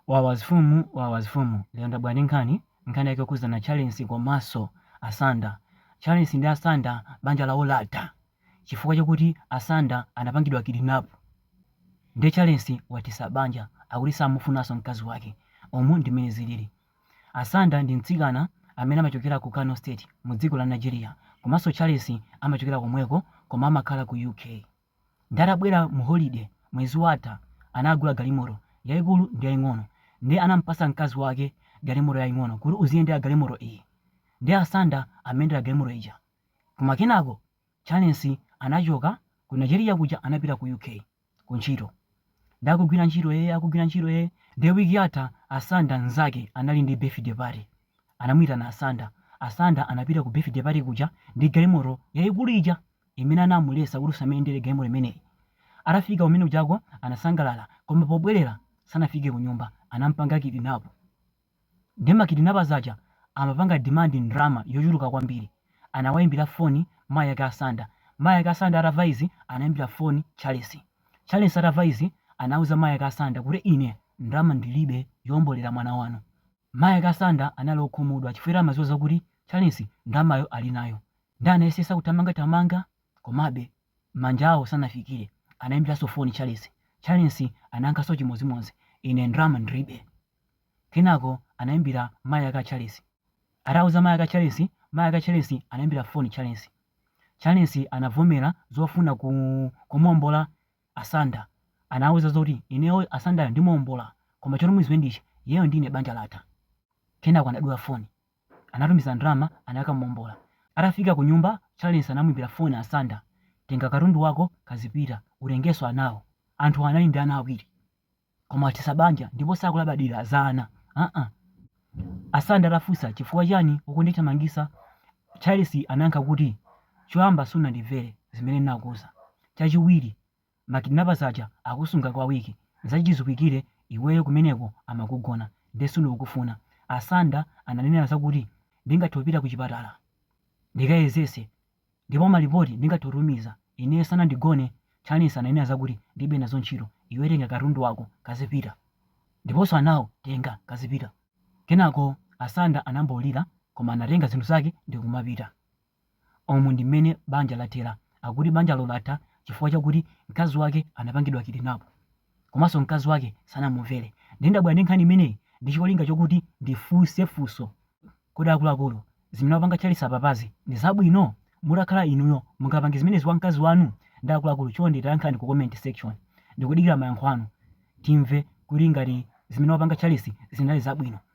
Wawa zifumu wawa zifumu lero ndabwera ndi nkhani nkhani yake yokhudzana Charles komaso Asanda Charles ndi Asanda banja lawo latha chifukwa chakuti Asanda anapangidwa kidnap nde Charles wathesa banja akuti samufunaso mkazi wake umu ndi mmene zilili Asanda ndi mtsikana amene amachokera ku Kano state mu dziko la Nigeria komaso Charles amachokera komweko koma amakhala ku UK Nde adabwera mu holiday mwezi watha anagula galimoto yaikulu ndi yaing'ono nde anampasa mkazi wake galimoto yaing'ono kuti uziyendera galimoto iyi nde asanda amayendera galimoto ija koma kenako Charles anachoka ku Nigeria kuja anapita ku UK ku ntchito nde akugwira ntchito ee akugwira ntchito ee nde week yatha Asanda nzake anali ndi birthday party anamuitana Asanda Asanda anapita ku birthday party kuja ndi galimoto yaikulu ija imene anamuletsa kuti usamayendere galimoto imeneyi. Atafika kumene kujako anasangalala koma pobwerera sanafike kunyumba anampanga kidnap. Nde ma kidnappers aja amapanga demand ndalama yochuluka kwambiri. Anawaimbira phone mayi ake Asanda. Mayi ake Asanda atava izi anaimbira phone Charles. Charles atava izi anauza mayi ake Asanda kuti ine ndalama ndilibe yoombolera mwana wanu. Mayi ake Asanda anali okhumudwa chifukwa amadziwa zakuti Charles ndalamayo ali nayo nde anayesetsa kuthamangathamanga komabe manja awo sanafikire. Anaimbiranso foni Charles. Charles anayankhanso chimodzimodzi, Ine ndalama ndilibe. Kenako anaimbira mayi ake a Charles. Atauza mayi ake a Charles, mayi ake a Charles anaimbira foni Charles. Charles anavomera zofuna kumuombola Asanda anawuza zoti ineyo Asandayo ndimuombola koma choti muziwe ndi ichi iyeyo ndi ine banja latha. Kenako anadula foni. Anatumiza ndalama anakamuombola. Atafika ku nyumba Charles anamuimbira foni Asanda, tenga katundu wako kazipita, utengenso anawo. Anthuwa anali ndi ana awiri. koma wathetsa banja ndipo sakulabadira za ana aa Asanda atafunsa chifukwa chani ukundithamangisa Charles anayankha kuti choyamba sunandimvere zimene ndinakuuza chachiwiri ma kidnappers aja akusunga kwa week zachiziwikire iweyo kumeneko amakugona nde sindikukufuna Asanda ananena zakuti ndingathe kupita kuchipatala ndikayezese Ndipo malipoti ndingathe kutumiza, ineyo sanandigone, Charles ananena zakuti ndilibe nazo ntchito, iwe tenga katundu wako kazipita, ndiponso anawo tenga kazipita. Kenako Asanda anambolira koma anatenga zinthu zake ndikumapita. Umu ndi mmene banja lathera, akuti banjalo latha chifukwa chakuti mkazi wake anapangidwa kidnap. komanso mkazi wake sanamumvere. Ndiye ndabwera ndi nkhani imeneyi ndi cholinga chokuti ndifunse funso, Kodi akuluakulu, zimene wapanga Charles apapazi ndi zabwino? Mutakhala inuyo, mungapange zimenezi kwa mkazi wanu ndi akuluakulu? Chonde tayankhani ku comment section. Ndikudikira mayankho anu timve kuti ngati zimene wapanga Charles zinali zabwino.